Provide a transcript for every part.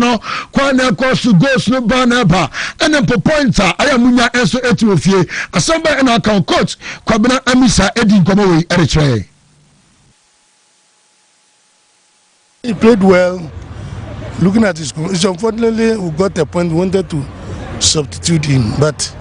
no kwan na ɛkɔ so goals no ba na ɛba ɛne mpo points a ɛyɛ mo nya nso ɛti wɔ fie asɛm bɛn ɛna aka coach kwabena amisa ɛdi nkɔmɔ wei ɛrekyerɛ yɛn He played well looking at his goal. It's unfortunately we got a point we wanted to substitute him, but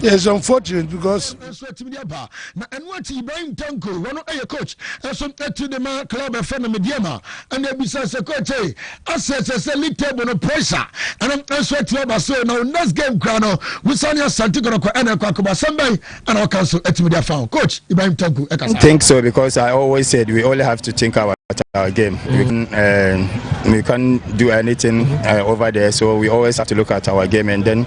It's unfortunate because. So a team yaba na ɛno akyi Ibrahim Tanko wɔn ɛyɛ coach ɛso ɛtu de ma club ɛfɛ na media ma ɛna ebisa sɛ coach ɛyɛ asɛ sɛ sɛ league table no pressure ɛna ɛso ɛtu aba so na next game kura no wusani Asante Kɔnɔkɔ ɛna ɛkɔ akɔba sɛnbɛn ɛna ɔka nso ɛtu media fa coach Ibrahim Tanko ɛkasa. I think so because I always said we only have to think about our game. Mm. We can. Uh, we can't do anything uh, over there. So we always have to look at our game and then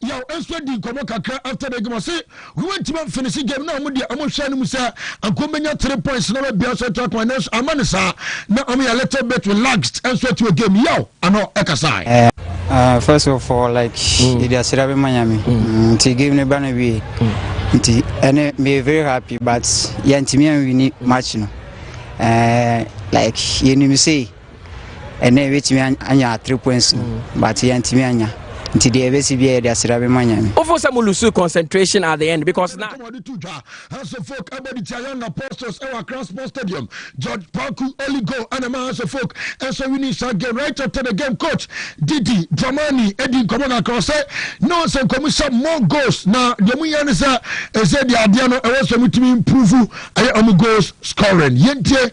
Yaw nso adi nkɔmmɔ kakra after the game ɔse wantumi amfinihye game no a wɔn deɛ wɔhwɛ no mu sɛ anka wɔbɛnya three points na wɔabia so atu akoma nanso amma no saa na wɔyɛ a little bit relaxed nso ati wɔ game no yaw ano ɛkasae. Uh, first of all like mm. yɛde aseda bɛma nyame mm. nti game no ba no wie mm. nti ɛne meyɛ very happy but yɛntumi anwini match no uh, like yɛnim sei ɛnɛ yɛbɛtumi anya three points no mm. but yɛntumi anya nti deɛ ɛbɛsi bia yɛde aseda bɛma nyame wofo sɛ molusu concentration at the end because na wɔde to dwa hanso folk ɛbɔ de tia young apostles ɛwɔ akra sports stadium george paku only goal ɛna ma hanso folk ɛnso winning saa game right after the game coach didi dramani ɛdi nkɔmmɔ na akra sɛ na wɔn sɛ nkɔmu sɛ more goals na deɛ mu yɛ ne sɛ ɛsɛ deɛ adeɛ no ɛwɔ sɛ mutumi improve ɛyɛ ɔmo goals scoring yɛntie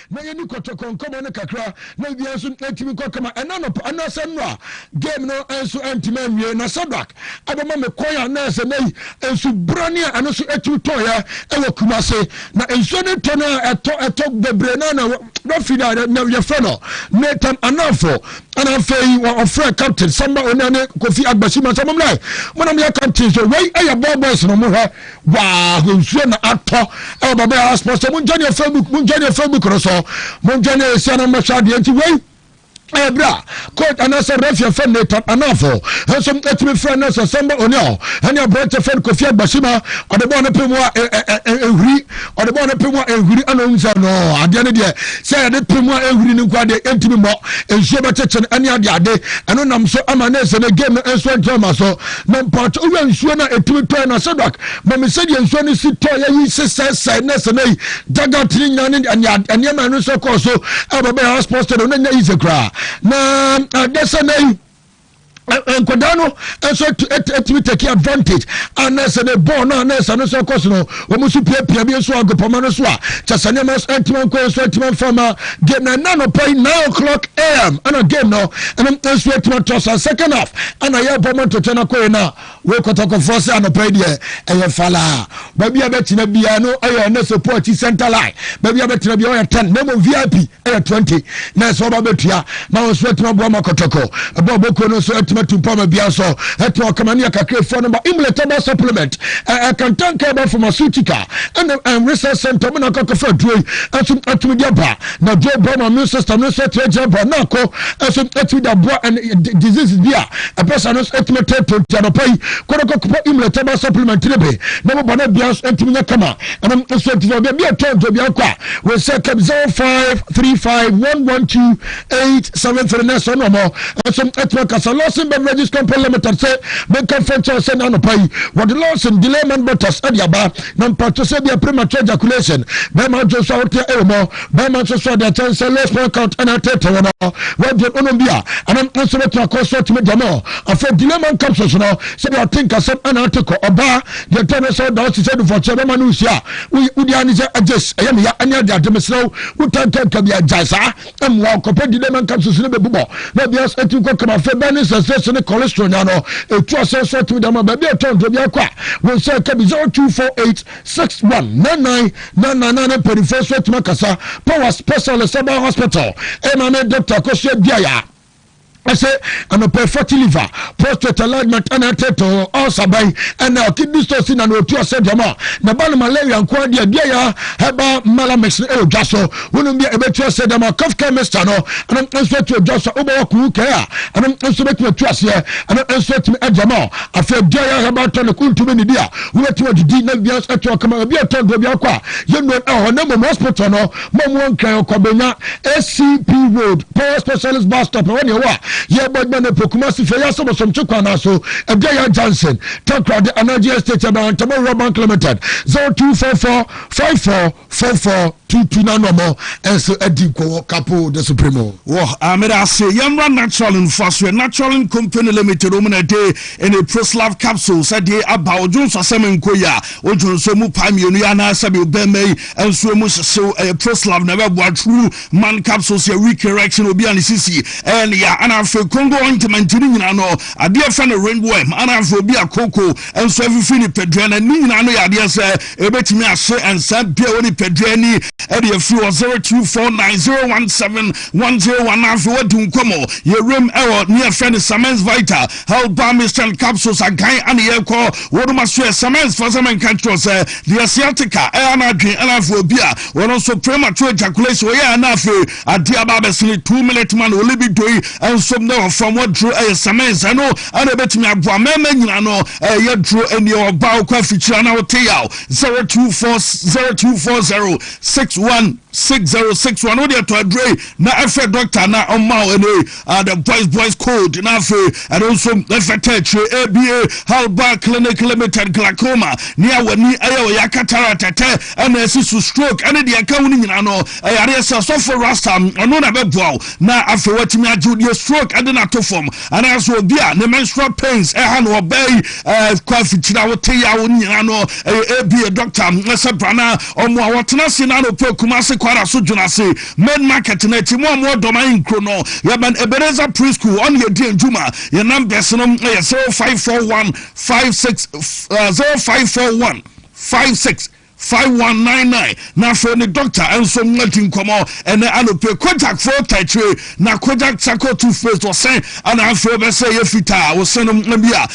na yɛni kɔtɔkɔ nkɔmmɔ no kakra na wia nso ɛtumi kɔ kama ɛna nɔpa ɛna sɛ no a game no nso ɛntumi anwie na sadak ɛbɛma me kwan a na ɛsɛ nayi nsu brane a ɛno nso ɛtumi tɔɔyɛ ɛwɔ kuma se na nsuo no tɔ no a ɛtɔ ɛtɔ bebree na na referee no a na yɛfrɛ no nathan anafo ɛna afei ɔfrɛ captain samba onane kofi agbasi ma sɛ mom nae monam yɛ captain so wei ɛyɛ ball boys no mo hwɛ Waah nsuo na atɔ ɛwɔ bɛbɛ house post sɛ mongya neɛ facebook mongya neɛ facebook no so mongya neɛ ɛsia no mmɛhyɛ adeɛ nti wei ɛyɛ berɛ a coach anaasɛ rafia fɛ nathan anafo nso ɛtumi frɛ no sɛ sɛmba oniɔ ɛne aberɛnkyɛ fɛ no kofi agbasima ɔde bɔɔ no pe mu a ɛhwiri ɔde bɔɔ no pe mu a ɛhwiri ana ɔhu sɛ no adeɛ no deɛ sɛ yɛde pe mu a ɛhwiri no nko adeɛ ɛntumi mmɔ nsuo bɛkyekye no ɛne adeade ɛno nam so ama ne sɛ ne game no nso nkyɛma so Na mpakyɛ owia nsuo no a ɛtumi tɔɛ na Shadrach ma me sɛdeɛ nsuo no si tɔɔyɛ yi sesɛsɛe na sɛ na yi daga tiri nya ne nneɛma ɛno nso kɔɔ so ɛbɛ bɛyɛ hospital stay no na nya yi sɛ koraa na ɛdɛ sɛ na yi nkwadaa no nso ɛtumi take advantage a na sɛ ne bɔɔl no a na sɛ no nso kɔ so no Wɔn nso piapia bi nso agopɔma no so a kyɛ sɛ nneɛma nso antumi ankɔ yɛn so antumi amfa ma game na ɛna anɔpa yi nine o'clock am ɛna game no ɛno nso atumi atɔ sɛ second half ɛna yɛbɔ ma ntotwa no akɔyɛ no a wei kɔtɔkɔfoɔ sɛ anɔpa yi deɛ ɛyɛ falaa baabi a bɛtena biara no ɛyɛ ɛnɛ sɛ poakyi center line baabi a bɛtena biara ɔyɛ ten na mmom vip yɛ twenty na ɛsɛ ɔba bɛtua na wɔn nso atumi aboa ma kɔtɔkɔ ɛbɔ ɔbɔkuo no nso atumi atu mpɔ ama bia nso atumi ɔkama ne yɛkakra efuo no ba imlet ɛba supplement ɛkantanka ɛba pharmaceutical ɛna ɛnwesa center mu na akɔkɔfa aduro yi nso atumi de aba na aduro bɔ ma immune system no nso atumi agyina bɔ na akɔ nso atumi de aboa ɛne diseases bi a ɛbɛ sa no nso atumi tɛ tonti anɔpa yi kɔdɔkɔkɔpɔ imlet ɛba supplement ne be na mo bɔ no bia nso atumi nyɛ kama ɛnam nso ti sɛ ɔbɛbi ɛtɔ ntɔ bi akɔ a wɔsɛ kɛm zero five three five one one two eight seven three nɛsɛ ɔno ɔmɔ ɛso ɛtuma kasa lawson beverages company limited sɛ mɛka fɛn kyɛw sɛ n'anɔpa yi wɔde lawson delay man butters ɛde aba na mpatwɛ sɛ bi a premature ejaculation bɛrima adwo nso ahoteɛ ɛwɔ mɔ bɛrima nso so ɔde akyɛn sɛ low sperm count ɛna ɛtɛɛtɛ wɔn no wɔde ɔnom bi a ɛnam nso bɛtuma kɔ so tumi gyamɔ afɔ delay man capsules no sɛ bi a ɔte nkasɛm ɛna ate kɔ ɔbaa Deɛ ɛtɔ no sɛ ɔda ɔse sɛ dufɔkyeɛ bɛma no nhyia a, wodi ara ne sɛ Agyes, ɛyɛ me ya, ɛne Adeade, mesrɛ wo, wo tantanka bi agyae saa, ɛmmoa wo, kɔpɛ dide ma nka susu no bɛbobɔ, na ebi nso ɛtumi kɔ kama, afei bɛn ne nsɛsrɛ se ne cholesterol nya no, ɛtu asɛn nso ɛtumi de ama, baabi a ɛtɔ aduro biara kɔ a, wo nsa ɛka bi, 0248619999 ne mpaninfoɔ nso ɛtumi akasa, Power Specialist Herbal Hospital, ɛma me Doctor Akosua Duaya. ɛsɛ anɔpɛ fatty liver prostate alignment ɛna ɛtetɔ ulcer bɛn ɛna kidney stone si na na otu ɔsɛ dɛm a na ba no malaria nko adeɛ deɛ yɛ herbal malamix no ɛwɔ dwa so wonom deɛ ɛbɛtu ɔsɛ dɛm a cough care mixture no ɛno nso atu ɔdwa so wobɛwɔ kuhu kɛɛ a ɛno nso bɛtumi atu aseɛ ɛno nso atumi ɛdɛm a afei deɛ yɛ herbal tonic wontumi ne di a wobɛtumi adidi na bia ɛtoɔ kama obi ɛtɔ ndoɔ bi akɔ a yɛnnuo ɛhɔ na mmom hospital no Mom wɔntwɛn Ɔkwabenya ACP road Power Specialist bus stop ɛhɔ nea ɛwɔ a yɛbɔ adwuma no ɛpo Kumasi fɛ yɛasɛ bɔsɔmkye kwan naa so Aduaya Johnson Takoradi Anagye Estate ɛbɛn Antamɔ Rural Bank Limited zero two four four five four four four two two na nɔmɔ ɛnso adi nkɔwɔ kapo de so primo. Wɔ ameda ase yɛmmra natural nfasoɛ natural company limited wɔn na ɛde ɛne proslav capsules ɛde aba odwonsasɛm nkoya odwonso mu paa mmienu yɛ anaasɛ bi obɛn mɛyi Nso emu hyehyew ɛyɛ Proslav na ɛbɛboa true man capsules yɛ weak erection obi a ne sisi ɛyɛ ne ya ana afei Congo ointment ne nyinaa no adeɛ ɛfɛ no ringworm ana afei obi a koko nso afifi nipadua na ne nyinaa no yɛ adeɛ sɛ ɛbɛtumi ahye nsa bi a ɛwɔ nipadua ni ɛde afiri wɔ 0249017101 na afei wadi nkɔmɔ yɛ rem ɛwɔ ne ɛfɛ no Samens Vital Health Balmist and Capsules agan ana yɛkɔ wɔnom aso ɛ cements fa sɛ menka nkyerɛ wo sɛ deɛ sciatica ɛ ana adwen ɛna afei obi a wɔno nso premature ejaculation ɔyɛ ɛna afei adeɛ aba abɛsene two minute man wɔ libido yi nso ne ɔfam waduro ɛyɛ cements ɛno ɛna ɛbɛtumi aboa mɛma nyina no ɛyɛ duro ɛni ɔba wokɔ afikyiri ana wote yaw 024 0240 61 606 wɔn wode ɛtɔ aduro yi na ɛfɛ dɔkta na ɔma wo ɛnɛ a the boys boys code na afei ɛno nso ɛfɛtɛ akyire aba halba clinic limited glaucoma ne a w'ani ɛyɛ ɔyɛ cataract ɛtɛ ɛna ɛsi so stroke ɛne deɛ ɛka ho no nyinaa no ɛyareɛ sɛ sɔfo rasta ɔno na bɛboa wo na afei watumi agye deɛ stroke ɛde no ato fam anaasɛ obi a ne menstrual pains ɛha no ɔbɛyi ɛɛ kɔ afikyira wo te yawo no nyinaa no ɛyɛ aba doctor ɛsɛ brana ɔmo a wɔtena se na anɔpɛ kuma se kwara so dwena se Main market no akyi, mo a mowɔ Dɔman nkuro no, yɛbɛn Ebenezer Pre-school hɔ na yɛdi adwuma. Yɛn numbers no yɛ zero five four one five six zero five four one five six five one nine nine. Na afei ne doctor nso di nkɔmɔ ɛnɛ anɔpɛ. Kojak Froota akyire na Kojak Charcoal Toothpaste ɔsɛn ɛna afei bɛsɛ yɛ fitaa ɔsɛn no bi a.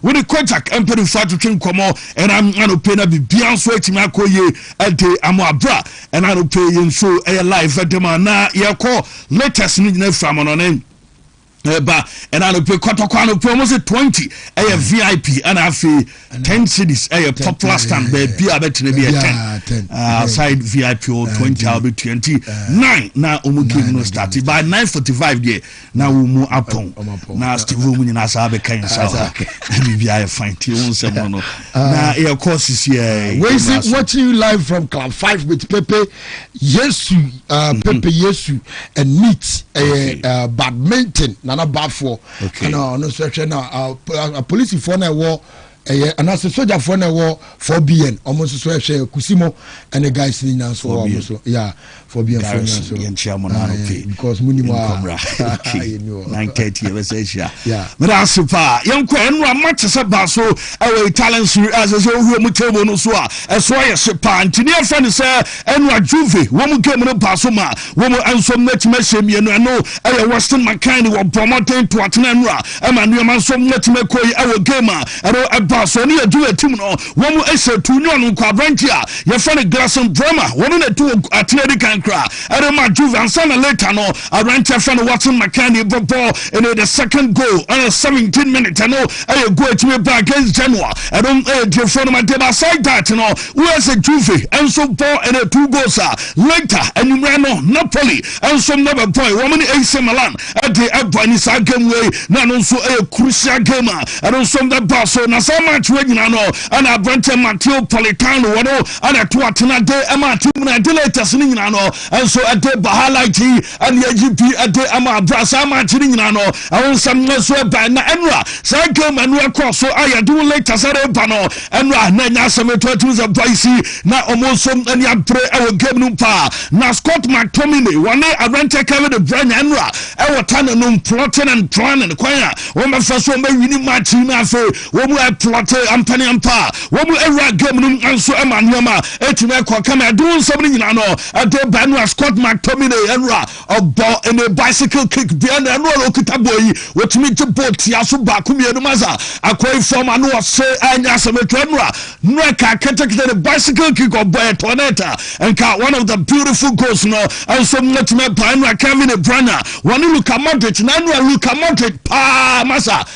Wo ne Kojak mpanyimfo atwetwe nkɔmmɔ ɛnna anɔpɛ na biribiara nso atumi akɔ yie de ama wo. Bere a ɛnna anɔpɛ yi yɛn show yɛ live de ma, na yɛkɔ latest no nyinaa firi amanɔne ɛba. Ɛnna anɔpɛ kɔtɔkɔ anɔpɛ wɔn se twenty ɛyɛ vip ɛnna afei ten cedis ɛyɛ popular stand baabi a bɛtena bi yɛ ten aside vip wɔ twenty a wɔbɛtua nti nine na wɔn game no start by nine forty five deɛ na wo mu apɔn na steve mu nyinaa saa bɛka nsa hɔ na biribia yɛ fine tie wo nsɛm no no ah. na yɛkɔ sisiɛ wei se watching you live from club 5 with pepe yesu uh, mhm. pepe yesu and meet ɛyɛ eh, uh, badminton nana bafoɔ ɛna ɔno nso ɛhwɛ na uh, uh, polisifoɔ na ɛwɔ Ɛyɛ anaasɛ sogyafoɔ na ɛwɔ four bn ɔmo nso so ɛhwɛ kusi mo ɛne guys ne nyinaa nso wɔ ɔmo so ya four bn fo nyinaa so yɛn kyia mo naa okay because mo nim a nkɔmra okay nine thirty yɛ bɛsɛ ahyia mɛda ase paa yɛn kɔ ɛnu ama te sɛ ba so ɛwɔ italian siri ɛsɛ sɛ ohuri ɔmo table no so a ɛso ayɛ se paa ntini ɛfɛ ne sɛ Eno Ajuve wɔn game no baa so maa wɔn nso matumi ahyɛ mmienu. Eno yɛ Weston McKennie wɔbɔɔ mmɔden to atena eno a ɛma nneɛma nso matumi akɔ yie wɔ game a eno ɛbaa so. Eno yɛ Juve team no wɔn hyɛ to ne ɔno nko aberanteɛ a yɛfrɛ no Gleison Bremer ɔno na tu atena edi kan koraa de maa Juve ansa na later no aberanteɛ a yɛfrɛ no Weston McKennie bɛbɔ eno the second goal eno 17 minutes eno yɛ goal a ɛtumi baa against Genoa eno yɛ tiefoɔ no ma deɛ ba aside that no Ueca Juve nso bɔɔ ɛnɛ two goals a later anwummerɛ no Napoli nso na bɛbɔe. Wɔn ne AC Milan de bɔ ɛne saa game wei na ɛno nso yɛ crucial game a ɛno nso bɛbaa so. Na saa match wei nyinaa no ɛna aberanteɛ Matteo Politano wɔn na ɛto atena de ɛmaa team no ɛde latest no nyinaa no nso ɛde ba highlight yi. ɛne agye bi de ama abira saa maakye no nyinaa no ɛho nsɛm no nso ɛbae na ɛno a saa game ɛno ɛkɔɔ so a yɛde wo later sɛ reba no ɛno a na ɛnyɛ asɛm ɛto atumi sɛ boys yi na wɔn nso ani abere ɛwɔ game no paa na Scott McTominay wɔne Arante Kevin De Bruyne ɛno a ɛwɔ tane no plotting and planning kwan a wɔbɛfa so wɔbɛwini match yi no afei wɔn a ɛplɔte ampaneampa a wɔn awura game no nso ɛma nneɛma ɛtumi ɛkɔ kama ɛde wo nsɛm no nyinaa no Ɛde ba no a, Scott McTominay ɛno a ɔbɔ ne bicycle kick deɛ na ɛno a ɔkita bɔɔ yi wɔtumi gye bɔɔ tia so baako mmienu ma sa akɔyi fam ano ɔse ɛnyɛ asɛm ɛtwa ɛno a nnura ka ketekete ne bicycle kick ɔbɔ ɛtɔ net a nka one of the beautiful goals no nso mmatumi ɛba ɛno a Kevin De Bruyne wɔne Luka Modric na ɛno a Luka Modric paa ma sa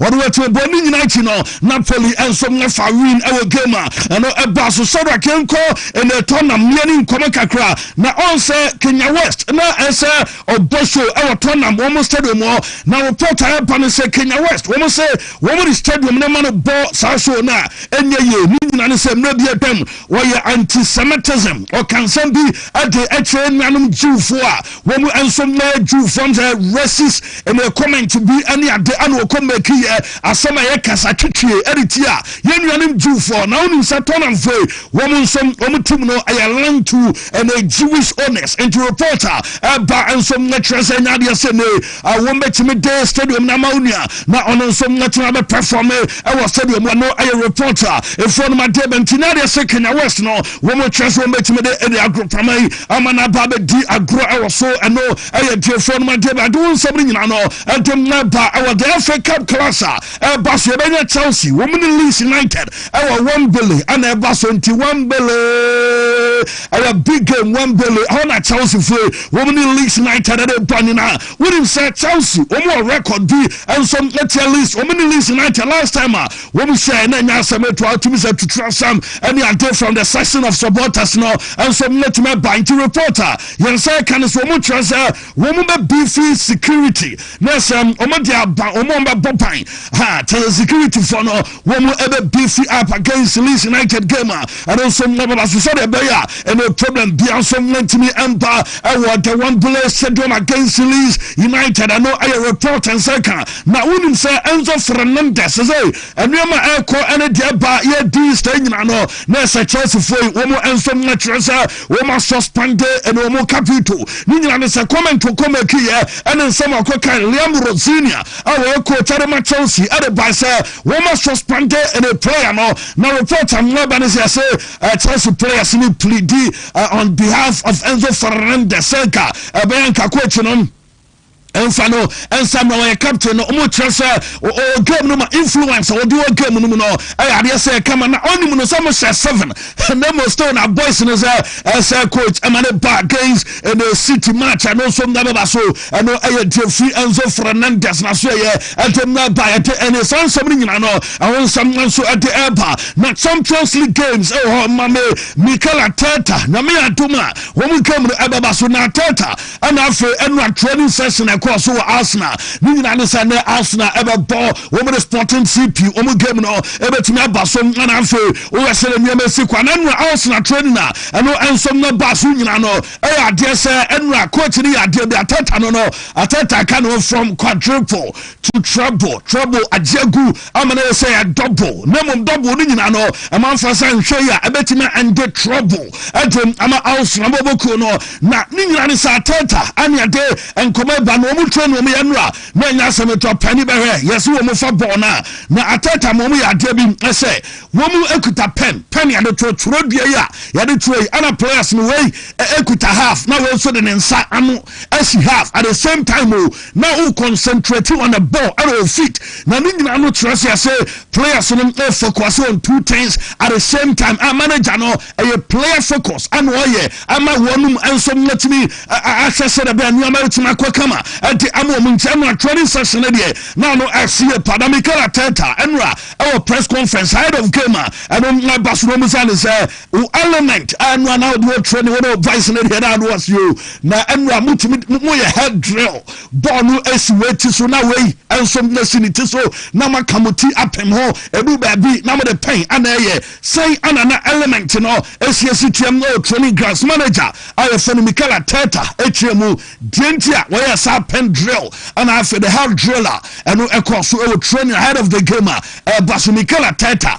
Wɔde wɔn atirimpɔw no nyinaa akyi no, Napoli nso fa win wɔ game a ɛno ɛbaa so. Shadrack, yɛnkɔ Eneetɔ na mmea ne nkɔmmɔ kakra na ɔn sɛ Kenya West na ɛsɛ ɔbɔ show ɛwɔ Tottenham wɔn stadium hɔ na report a ɛba ne sɛ Kenya West wɔn se wɔn de stadium no ma no bɔ saa show no a ɛnyɛ yie. Ne nyinaa ne sɛ mmerɛ bi atwam wɔyɛ anti-Semitism ɔka nsɛm bi de kyerɛ nuanom Jewfoɔ a Wɔn nso mmɛyɛ Jew foɔ sɛ racist and yɛ comment bi ɛne ade ɛna ɔkɔ make yɛ asɛm a ɛyɛ kasa twitwie ɛde tia yɛn nuanom Jew foɔ na wonim sɛ Tottenham foɔ yi wɔn nso wɔn team no ɛyɛ linked to ɛna Jewish owners nti report a ɛba nso ɛkyerɛ sɛ ɛnyɛ adeɛ sɛ ne a wɔbɛtumi de stadium no ama wo nua na ɔno nso atumi abɛpɛfɔme ɛwɔ stadium mu ɛno ɛyɛ report a efoɔ nom adeɛ bɛ nti na adeɛ sɛ Kenya West no wɔn kyerɛ so wɔbɛtumi de ɛde agorɔpama yi ama no aba abɛdi agorɔ ɛwɔ so ɛno ɛyɛ deɛfoɔ nom adeɛ bɛ ade wo nsɛm no nyinaa no ɛde mma ba ɛwɔ the FA Cup class a Ɛba so yɛbɛnya Chelsea, wɔn ne Leeds United ɛwɔ Wembley ɛna ɛba so nti Wembley ɛyɛ big game Wembley ɛhɔ na Chelsea fue wɔn ne Leeds United ɛde bɔ nyinaa wonim sɛ Chelsea wɔn wɔ record bi nso ɛtia Leeds wɔn ne Leeds United last time a wɔn hyɛ ɛna ɛnya asɛm etu atumi sɛ tutura sam ɛne ade from the section of supporters no nso ɛtumi ɛba nti reporter yɛn sɛ ɛka ne so wɔn kyerɛ sɛ Wɔn bɛ bifi security na sɛ wɔn de aba wɔn a wɔbɛ bɔ ban ha kyɛ security fɔ no wɔn bɛ bifi up against Leeds United game a ɛno nso wɔn bɛba so sɛdeɛ ɛbɛyɛ a ɛne problem bia nso wɔntumi mba ɛwɔ the one bullet stadium against Leeds United ɛno ɛyɛ report nsɛ ka na wonim sɛ Enzo Fernandez sɛ nneɛma ɛkɔ ɛne deɛ ba yɛ these days nyina no na sɛ Chelsea foɔ yi wɔn nso wɔn kyerɛ sɛ Wɔn asuspɛnde ne wɔn ka veto ne nyinaa ne sɛ comment wɔ kɔ make yɛ ɛne nsɛm a ɔkɔ kan Liam Rosenior a ɔyɛ coach ɛde ma Chelsea ɛde bae sɛ wɔn asuspɛnde ne player no na report a mmoa ba ne sɛ yɛse Chelsea players ne pleadi on behalf of Enzo Fernandez sɛ nka ɛbɛyɛ nka coach no Ɛnfa no nsa mmerɛ wɔyɛ captain no ɔmo kyerɛ sɛ ɔwɔ game no ma influence a ɔde wɔ game no mu no ɛyɛ adeɛ sɛ ɛka ma na ɔnim no sɛ ɔmo hyɛ seven na ɔmo still na boys no sɛ ɛsɛ coach ɛma ne ba against ɛna city match ɛno nso na bɛba so ɛno ɛyɛ deɛ fi Enzo Fernandez na so ɛyɛ ɛde na ɛba ɛde ɛne saa nsɛm no nyinaa no ɛho nsɛm nso ɛde ɛba na Champions League games ɛwɔ hɔ ma me Mikel Arteta nyame adom a wɔn game no ɛbɛba so na Arteta ɛna afei ɛnu a training session a ɛkɔɔ so wɔ Arsenal ne nyinaa ne sɛ ne Arsenal ɛbɛbɔ wɔn de Sporting CP wɔn game no ɛbɛtumi aba so ɛna afei woyɛ sɛ nneɛma esi kwan na ɛnu a Arsenal training a ɛno nso no ba so nyinaa no ɛyɛ adeɛ sɛ ɛnu a coach no yɛ adeɛ bi atɛta no no atɛta ka no from quadruple to treble treble agye gu Amena yɛ sɛ yɛ dɔbo na mmom dɔbo no nyinaa no ɛma nfa sɛ nhwɛ yi a ɛbɛtumi ɛnde trɔbo ɛde ama awosra bɔbɔ kuo no na ne nyinaa ne saa tɛɛta ɛne ɛde nkɔmɔ ɛba na wɔn twerɛ na wɔn yɛ nnora na ɛnyɛ asɛm ɛtɔ pɛni bɛhwɛ yɛ sɛ wɔn fa bɔɔ no a na atɛɛta ma wɔn yɛ adeɛ bi ɛsɛ wɔn ɛkuta pɛn pɛn yɛde twerɛ twerɛ dua yi a yɛde twerɛ yi ɛna players no wei ɛkuta half na wɔn nso de ne nsa ano as you have at the same time o na wo concentrate on the ball ɛna o feet na ne nyinaa no kyerɛ sɛ ɛsɛ players no o focus on two things at the same time a manager no ɛyɛ player focus ɛna ɔyɛ ama wɔnom nso mmatumi ahwɛ sɛ dɛ bɛn nneɛma atumi akɔ kama ɛde ama wɔn nti ɛna training session deɛ na ano ɛsi yɛ pa na Mikel Arteta ɛnora ɛwɔ press conference ahead of game a ɛno ɛba so na wɔn sɛ ne sɛ Wo element a ɛnura na ɔde ɔtwerɛ ne wɔn voice no deɛ na ano ase o na ɛnura mo tumi mo yɛ head drill bɔɔl no esi wei ti so na wei nso na si ne ti so na mo aka mo ti apem ho edu baabi na mo de pɛn ana ɛyɛ sɛn ana na element no esiesie tiam no training grounds manager a yɛfɛ no Mikel Arteta ekyerɛ mu deɛ nti a wɔyɛ saa pen drill ana afɛ the head driller ɛno ɛkɔ so ɛwɔ training ahead of the game a ɛba so Mikel Arteta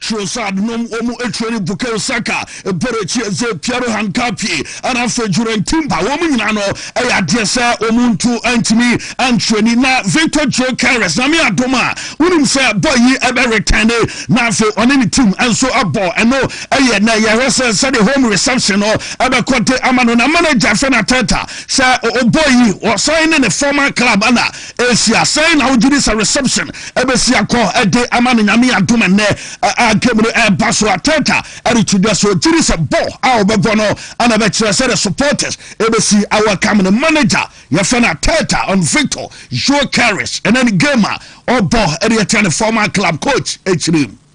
Trossard nom wɔn training Bukayo Saka, Eberechi Eze, Pierro Hincapié ɛna afei Jurriën Timber wɔn nyinaa no ɛyɛ adeɛ sɛ wɔn ntu ntumi antrani na Victor Gyokeres na me adom a wonim sɛ bɔ yi ɛbɛ retɛne na afei ɔne ne team nso abɔ ɛno ɛyɛ na yɛhwɛ sɛ sɛde home reception no ɛbɛkɔ de ama no na manager fɛ na tɛta sɛ ɔbɔ yi ɔsan ne ne former club ɛna Asia, sɛn na wogye di sɛ reception besi akɔ de ama no Nyame adom ɛnnɛ a game no ɛreba so Arteta reto dwa so gye di sɛ bɔ a wɔbɛbɔ no na ɛbɛkyerɛ sɛdeɛ supporters besi a welcome no Manager yɛfrɛ no Arteta on Victor Gyokeres ɛnɛ ne game a ɔbɔ de atia ne former club coach akyire mu.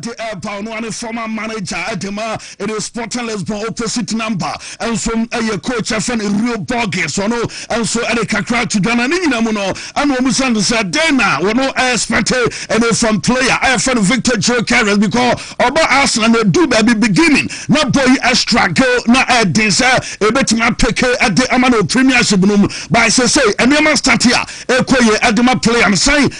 de reba ɔno ara ne former manager de ma ɛne Sporting Lisbon opposite number nso yɛ coach ɛfɛ no Real Borges ɔno nso de kakra to dwa na ne nyina mu no ɛna wɔn sɛ no sɛ dɛn na wɔn expect ɛne from player ɛfɛ no Victor Gyökeres because ɔba Arsenal na edu baabi beginning na bɔ yi struggle na ɛden sɛ ebetumi apeke ɛde ama no Premiership no mu by sɛ sɛ nneɛma start a ɛkɔ yɛ ɛde ma player no sɛn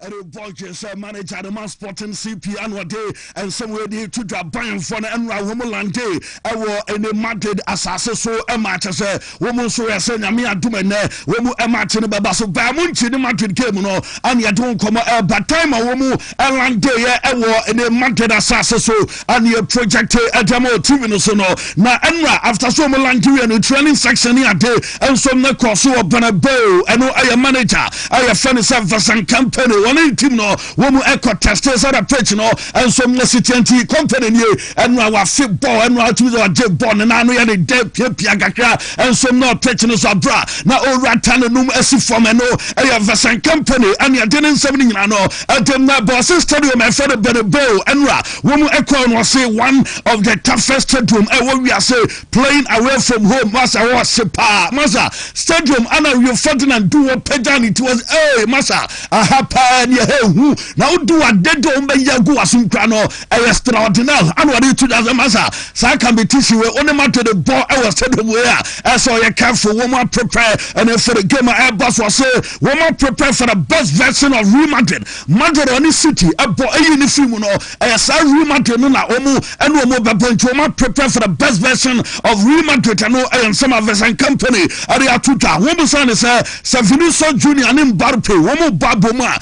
ɛde bɔ dwen sɛ manager no ma Sporting CP ano ɔde nsɛm wei de to dwa Bayernfoɔ no ɛnora wɔn lande ɛwɔ ɛne Madrid asase so ɛma kyɛ sɛ wɔn nso yɛ sɛ nyame adom ɛnɛ wɔn ɛma kye no bɛba so baa mu nkye ne Madrid game no ɛne ɛde wɔn nkɔmɔ ɛba time a wɔn ɛlande yɛ ɛwɔ ɛne Madrid asase so a na yɛprojɛkte de ama wɔ TV no so no, na ɛnna after sɛ wɔn lanke wie no, training section ne ade nso na ɛkɔɔ so wɔ Banaboo. Ɛno yɛ manager a yɛfrɛ no sɛ Vincent Kompany. Wɔne ne team no wɔkɔtɛstee sɛ na pitch no nso si teɛ nti, Kompany nie, ɛnna wafe bɔɔl, ɛnna watumi sɛ wagye bɔɔl no na ano yɛ ne dɛ piapia kakra nso na wɔ pitch no so berɛ a na ɔrewura tanne no mu asi fam. Ɛno yɛ Vincent Kompany na ɛde ne nsɛm no nyinaa no Ɔde ma Bɔɔsen Stadium a ɛfrɛ no Bernabeu no a wɔn ɛkɔɔ no ɔse one of the toughest stadium a ɛwɔ wiase playing away from home masa wɔ ɔse paa masa stadium ana Rio Ferdinand du wɔ pagya ne ti wɔ se ee masa aha paa ne ɛha ehu na wodu ade de wɔn bɛyɛ agu wasom kura no ɛyɛ extraordinary ana wɔde to dwa sɛ masa saa competition wei wɔn ne ma to de bɔ ɛwɔ stadium wei a ɛsɛ ɔyɛ careful wɔn apɛpɛ ɛna ɛfɛ de game a ɛbɔ so ɔse Wɔma prepare for the best version of Real Madrid. Madrid a ɔne City bɔ ayi ne fi mu no, ɛyɛ saa Real Madrid no na wɔn ɛne wɔn bɛbɔ nti wɔma prepare for the best version of Real Madrid ɛno ɛyɛ nsɛm a Vincent Kompany ɛde ato dwa. Wɔn bisa ne sɛ sɛ Vinicius Junior ne Mbappe wɔn bɔ abɔ mu a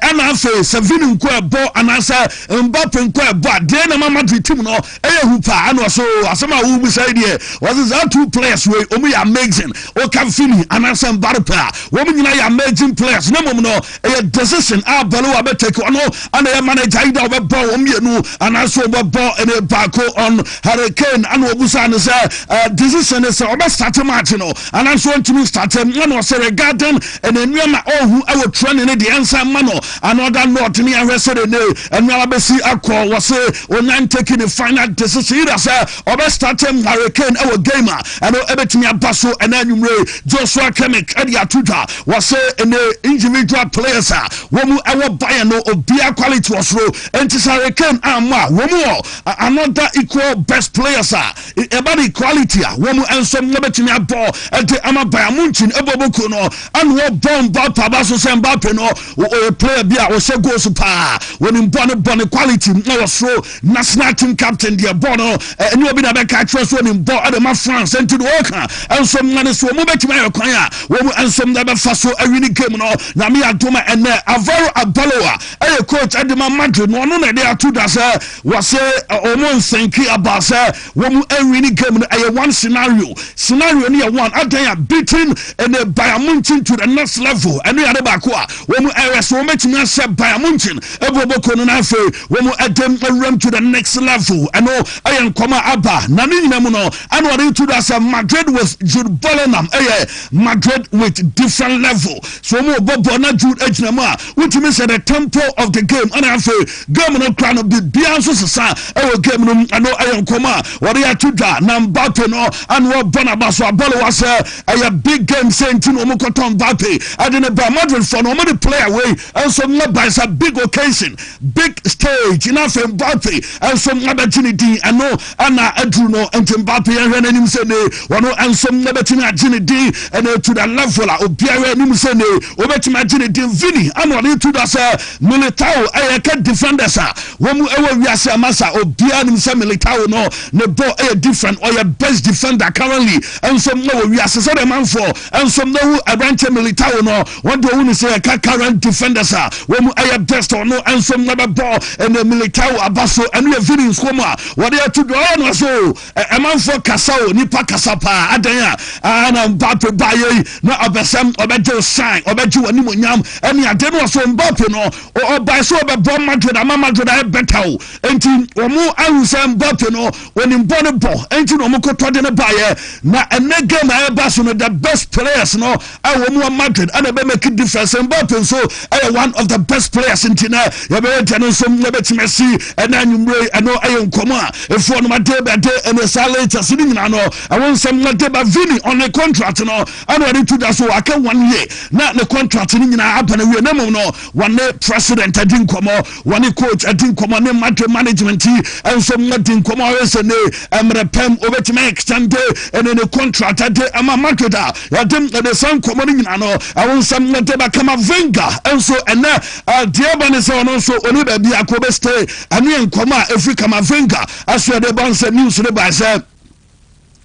ɛna afei sɛ Vini nko ɛbɔ anaasɛ Mbappe nko ɛbɔ a deɛn na ɛma Madrid team no Ɛyɛ hu paa ɛna ɔsɛ oo asɛm a wobisa yi deɛ ɔsɛ saa two players wei wɔn yɛ amazing woka Vinny anaasɛ Mbappe a wɔn nyinaa yɛ amazing players na mmom no ɛyɛ decision a Balewa bɛtake ɔno ɛna ɛyɛ manager yi da ɔbɛbɔ wɔn mmienu anaasɛ ɔbɛbɔ ɛna baako on Harry Kane ɛna ɔbusa no sɛ uh, decision ne sɛ ɔbɛ start match no anaasɛ ɔntumi start ɛna ɔsɛ regarding ɛna nneɛma ɔhu ɛwɔ training ne deɛ ɛnsa mma no Another note ne ahwɛ sɛ dede ɛno ara bɛsi akɔ wɔ se onyan taking the final decision either sɛ ɔbɛ start Harry Kane ɛwɔ game a ɛno ɛbɛtumi aba so ɛna anwummere Joshua Kimmich ɛde ato dwa wɔ se ne individual players a wɔn mu ɛwɔ Bayern no obiara quality wɔ soro enti sɛ Harry Kane ammɔ a wɔn wɔ another equal best players a Ɛba no equality a, wɔn nso wɔbɛtumi abɔ de ama Bayern Munchen ɛbɔbɔ kuo no ɛna wɔbɔ Mbappe aba so sɛ Mbappe no ɔyɛ player bi a ɔhyɛ goals paa wɔnim bɔ no bɔ no quality na wɔsoro national team captain deɛ bɔ no ɛnyɛ obi na bɛka akyerɛ so wɔnim bɔ ɛde ma France nti no wɔka nso ma no so wɔn bɛtumi ayɛ kwan a wɔn nso bɛfa so awi ne game no nyame adoma ɛnɛ Alvaro Abaloa ɛyɛ coach ɛde ma Madrid no ɔno na ɛde ato da sɛ Wɔse wɔn nsɛnki abaa sɛ wɔn ɛnwini game no ɛyɛ one scenario scenario no yɛ one adan a beating ɛnɛ Bayern Munchen to the next level ɛno yɛ ade baako a wɔn ɛyɛ so wɔn bɛtumi ahyɛ Bayern Munchen ɛbɔ bɔkɔ no na afei wɔn ɛdɛm ɛwuram to the next level ɛno ɛyɛ nkɔm a aba na ne nyina mu no ɛna wɔde to do asɛ Madrid with Jude Bellingham ɛyɛ Madrid with different level so wɔn ɔbɔ bɔ na Jude agyina mu a Wotumi sɛ the tempo of the game ɛna afei game no kora no biribiara nso sesa ɛwɔ game no mu ɛno ɛyɛ nkɔmɔ a wɔde ato dwa na Mbappe no ɛna ɔbɔ n'aba so abɔlewa sɛ ɛyɛ big game sɛ nti na wɔn kɔtɔ Mbappe ɛde ne ba Madrid fɔ no wɔn de player wei nso na ba sɛ big occasion big stage na afei Mbappe nso abɛgye ne din ɛno Ɛna aduru no nti mpa pii ɛhwɛ n'anim sɛ nee wɔn nso mɛbɛtumi agye ne din ɛna to da level a obiara anim sɛ nee wɔbɛtumi agye ne din Vini ɛna ɔde to da sɛ Militao ɛyɛ kɛ defenders a wɔn ɛwɔ wiase ama sa obiara anim sɛ Militao no ne bɔ ɛyɛ different ɔyɛ best defender currently nso ɛwɔ wiase sɛdeɛ manfoɔ nso ɛhu aberanteɛ Militao no Wɔn de ohunu sɛ yɛka current defenders a wɔn mu ɛyɛ best ɔno nso na bɛbɔ ɛnɛ Militao aba so ɛno yɛ Vini nsuo mu a wɔde ato dwa ɔyɛ no ase o ɛmanfoɔ kasa o nipa kasa paa adɛn a ɛna Mbappe ba yɛ yi na ɔbɛsɛm ɔbɛgye o shine ɔbɛgye wɔ anim onyam ɛne ade no ɔso Mbappe no ɔbae sɛ ɔbɛbɔ Madrid ama Madrid ayɛ bɛta o enti wɔn ahu sɛ Mbappe no wɔnim bɔ ne bɔ enti na wɔn kɔtɔ de ne baeɛ na ɛnɛ game a ɛba so no the best players no a wɔn wɔ Madrid ɛna ɛbɛ make difference Mbappe nso ɛyɛ one of the best players nti na yɛbɛyɛ deɛ no nso yɛbɛtumi asi ɛna anwummerɛ yi ɛno ɛyɛ nkɔmɔ a ɛfoɔ no made bɛde ɛne saa latest no nyinaa no ɛwɔ nsɛm made ba Vini ɔne contract no ɛna ɔde to da so aka one year na ne contract no nyinaa aba no wie na mmom no wɔne president adi nkɔmɔ Wɔne coach adi nkɔmmɔ ne Madrid management nso adi nkɔmmɔ sɛ ne mmerɛ pa mu wɔbɛtumi ayɛ extende ne ne contract de ama Madrid a yɛde ne saa nkɔmmɔ no nyinaa no ɛho nsɛm de bɛka ma Wenger nso ɛnɛ deɛ ɛba ne sɛ ɔno nso ɔne baabi akɔ bɛstay ɛne nkɔmmɔ a ɛfiri kama Wenger ɛso ɛde ba nsɛ news no bae sɛ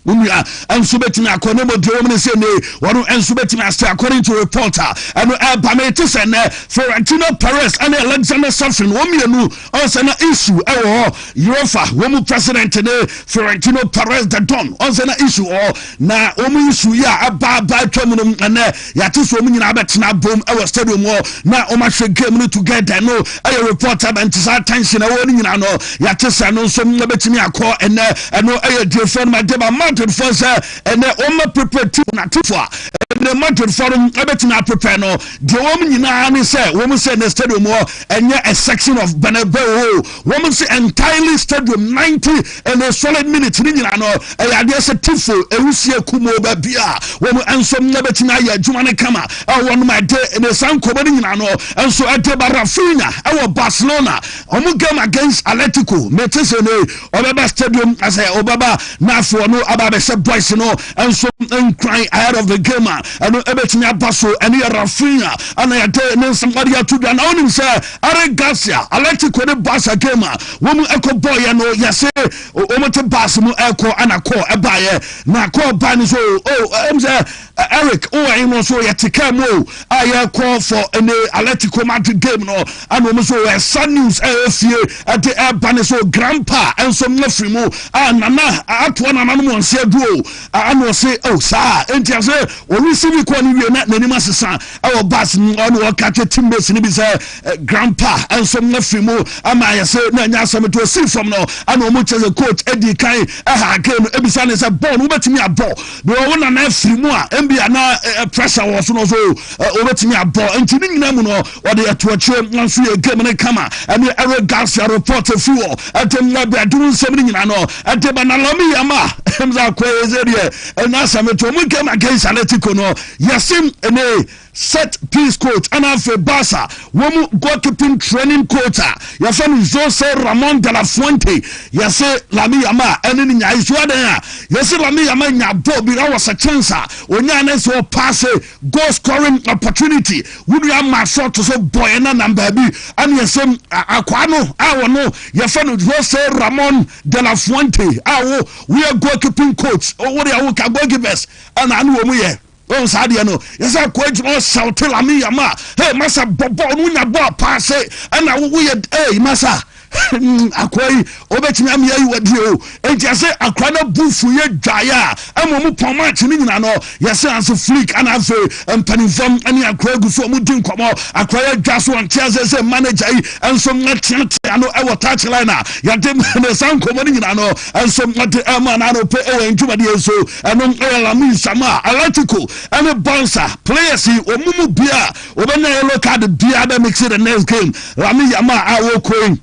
Wo nua nso bɛtumi akɔ ne mmɔdeɛ wɔm ne sɛ nne wɔn nso bɛtumi ase according to report a ɛno ɛba no ɛte sɛ nnɛ Florentino Perez ɛne Alexander Safin wɔn mmienu ɔnsɛ na issue ɛwɔ hɔ Europa wɔn mu president ne Florentino Perez the Don ɔnsɛ na issue ɔ na wɔn issue yi a ɛba ɛba atwa mu no ɛnɛ Yɛate sɛ wɔn nyinaa bɛtena abom wɔ stadium hɔ na wɔahwɛ game no together no yɛ report aba nti saa tension ɛwɔ no nyinaa no yɛate sɛ ɛno nso bɛtumi akɔ ɛnɛ ɛno yɛ diefo no made ba Madridfoɔ sɛ ɛnɛ wɔma prepare team no atefo a ɛnɛ Madridfoɔ no bɛtumi aprepare no deɛ wɔn nyinaa ne sɛ wɔn sɛ ɛnɛ stadium hɔ ɛnyɛ a section of Bernabeu Wɔn se entirely stadium ninety and a solid minutes ne nyinaa no ɛyɛ adeɛ sɛ tifo ewusie kumoo ba bi a wɔn nso ɛbɛtumi ayɛ adwuma no kama ɛwɔ wɔn ma ɛde ne saa nkɔmɔ no nyinaa no nso ɛde ba Rafinha ɛwɔ Barcelona wɔn game against Atletico mete sɛ ne ɔbɛba stadium asɛ ɔbɛba na afei ɔno aba abɛhyɛ boys no nso nkran ahead of the game a ɛno ɛbɛtumi aba so ɛne yɛ Rafinha ɛna yɛde ne nsɛm ɔde ato dwa na wɔnim sɛ Eric Garcia, Atletico ne Barca game a wɔn ɛkɔ bɔɔyɛ no yɛse wɔn te bus mu ɛkɔ ɛna call ɛbaayɛ na call baa no so o ɛm sɛ Eric o ɛyin no so yɛte kaa mu o a yɛkɔ for ɛne Atletico Madrid game no ɛna wɔn so ɛsa news ɛyɛ fie ɛde ɛba no so grandpa ɛnso mo firi mu a nana atoa nana no mo nse aduro ɛna ɔse o saa ɛnti ase wɔn receive call no wie na n'anim asesa ɛwɔ bus mu ɔne ɔka kyɛ teammates no bi sɛ eh, grandpa nso mo afiri mu ama ayɛ sɛ na ɛnyɛ asɛm nti ɔsii fam no ɛna ɔmo kyɛ sɛ coach adi kan ɛha game no ebisa ne sɛ bɔɔl no wobɛtumi abɔ bɛwɔ wo nana afiri mu a ɛmbi ana eh, eh, pressure wɔ so no so wobɛtumi abɔ nti ne nyina mu no ɔde ɛto akyire nso yɛ game no kama ɛne ɛre garcia report afiri wɔ ɛde mmɛ bɛduru nsɛm no nyina no ɛde banalɔme yɛ ma ɛm sɛ akɔyɛ sɛ deɛ ɛnyɛ asɛm nti ɔmo game against Atletico no Yacine Eneh, set piece coach, ɛna afei Barca wɔn mu goalkeeping training coach a yɛfrɛ no Jose Ramon de la Fuente. Yɛse Lamine Yamal ɛne ne nyae so adɛn a? Yɛse Lamine Yamal nya bɔɔl bi ɛwɔ sɛ chance a onyae na ɛsɛ ɔpaase goal scoring opportunity. Wo nua Marc Short so bɔɔyɛ na nam baabi ɛna yɛse akwaa no a wɔno yɛfrɛ no Jose Ramon de la Fuente a wo woyɛ goalkeeping coach wo deɛ woka goalkeepers Ɛna ano wɔ mu yɛ. Wɔn saa deɛ no, yɛ sɛ akɔ adwuma wɔ sɛwte lami yam a, hey masa bɔ bɔɔl no wonya bɔɔl paa se, ɛna wo woyɛ hey masa akɔ yi obetumi amia yi wadie o. Enti yɛ sɛ akora no bu fu yɛ dwaeɛ a, ɛma wɔn pɔn match no nyina no, yɛ sɛ anso flick ɛna afei mpanimfam ɛne akora egu so wɔn di nkɔmɔ, akora yɛ dwa so wɔn te ase sɛ manager yi ɛnso ɛteate ano ɛwɔ touch line a, yɛde ne saa nkɔmɔ no nyina no ɛnso ɛde ɛma n'ano pɛ ɛwɔ ndwumadie so. Ɛnom yɛ Lamine Sama, Atletico, ne Barca players yi, wɔn mu biara wɔbɛnya yellow card biara bɛ mix the next game. Lamine Yamal a wɔkɔ yi,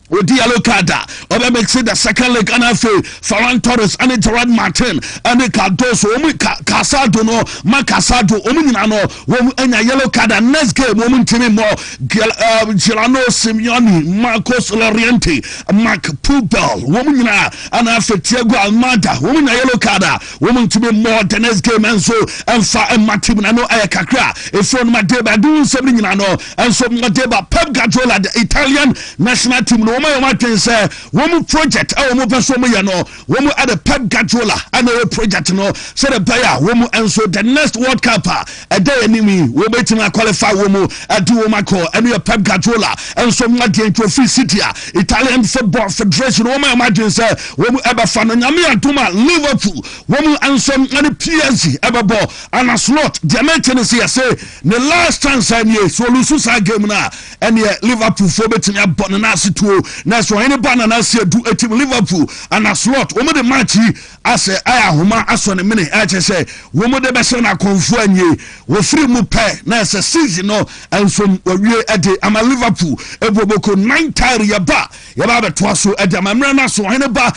wɔdi yellow card a, ɔbɛ mix the second leg ɛna afei Ferran Torres ne Gerard Martin ne Cardoso, wɔn Casado no, Marc Casado, wɔn nyinaa no Wɔn anya yellow card and next game wɔn ntumi mmɔ Giuliano eh, Simeone, Marcos Llorente, Marc Pubel wɔn nyinaa ana afɛ Thiago Almada wɔn nya yellow card a wɔn ntumi mmɔ the next game nso ɛnfa ɛma team na no ɛyɛ kakra efiri wɔn adeba ɛdi wɔn nsɛm ne nyinaa no ɛnso wɔn adeba Pep Guardiola the Italian national team no wɔn ayɛ wɔn adwene sɛ wɔn project a wɔn pɛ so wɔn yɛ no. Wɔn de Pep Guardiola na ɛyɛ project no sɛdeɛ ɛbɛyɛ a wɔn nso the next World Cup a ɛda yɛn anim yi wɔbɛtumi aqualify wɔn de wɔn akɔ ɛno yɛ Pep Guardiola nso adeɛ nti ofiri City a Italian Football Federation wɔn ayɛ wɔn adwene sɛ wɔn ɛbɛfa no nyame adom a Liverpool wɔn nso ne PSG ɛbɛbɔ Arne Slot deɛ mɛte no sɛ yɛse ne last chance a nie so ɔlusu saa game no a ɛneɛ Liverpool foɔ bɛtumi abɔ no naase tuo nanso ɔhene ba nana asi adu atim Liverpool ana slot wɔn de match yi asɛ ayɛ ahoma asɔ ne mene ɛkyɛ sɛ wɔn de bɛhyɛ no akɔnfoɔ anie wɔfiri mu pɛ na ɛsɛ season no nsom wɔwie ɛde ama Liverpool ɛbɔ boko nine tire yɛba yɛba abɛtoa so ɛde ama mmerɛ no aso ɔhene ba